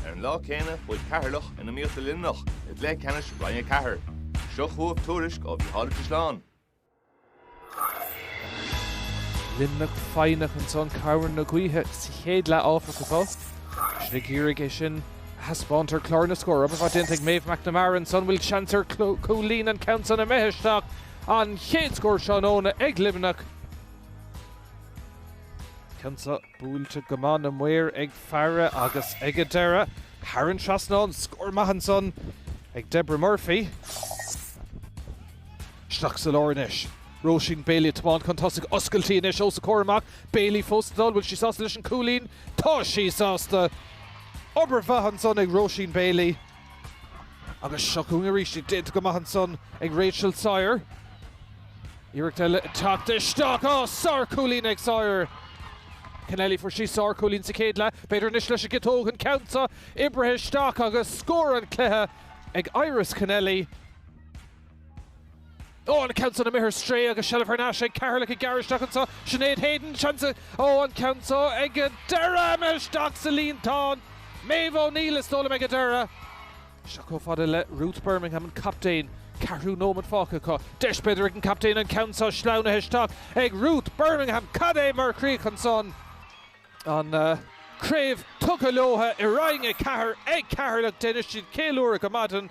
Ar an lá céanna chuaigh Ceatharlach in iomaíocht le Luimneach i gcluiche ceannais Roinn 4. Seo chugaibh tuairisc ó Mhícheál Ó Caisleáin. Luimneach foighneach ansan cabhair na gaoithe sa chéad leath áfach agus iad ag iarraidh é sin a thaispeáint ar chlár na scór. Obair mhaith déanta ag Maeve McNamara ansan bhfuil seans ar cúilín an ceann san imithe isteach. An chéad scór tráthnóna ag Luimneach. Ceann sa. Buailte go maith na maoir ag faire agus ag a deireadh thar an trasnán, scór maith ansan ag Deborah Murphy. Isteach sa lár anois. Róisín Bailey ag tiomáint chun tosaigh. Oscailtí anois os a comhair amach. Bailey fós ag dul. Bhfuil sí sásta leis an cúilín? Tá sí sásta! Obair mhaith ansan ag Róisín Bailey. Agus seo chugainn arís, déanta go maith ansan ag Rachel Sawyer. Iarracht eile ag teacht isteach, á, sárchúilín ag Sawyer! Kennelly, fuair sí sárchúilín sa chéad leath, b'fhéidir anois leis an gciotóg an ceann seo oibrithe isteach agus scór an chluiche ag Iris Kennelly. Ó, an ceann san imithe ar strae agus seilbh thar n-ais ag Ceatharlach ag gearradh isteach anseo. Sinéad Hayden, seans, ó an ceann seo ag a deireadh imithe isteach sa líontán. Méabh O'Neill is dóigh liom ag a deireadh. Seo chomh fada le Ruth Bermingham an captaen. Ceathrú nóimead fágtha acu. Deis b'fhéidir ag an captaen an ceann seo sleamhnaithe isteach ag Ruth Bermingham. Cad é mar chríoch ansan? An craobh tugtha leotha i Roinn 4 ag Ceatharlach. Déanfaidh siad ceiliúradh go maidin.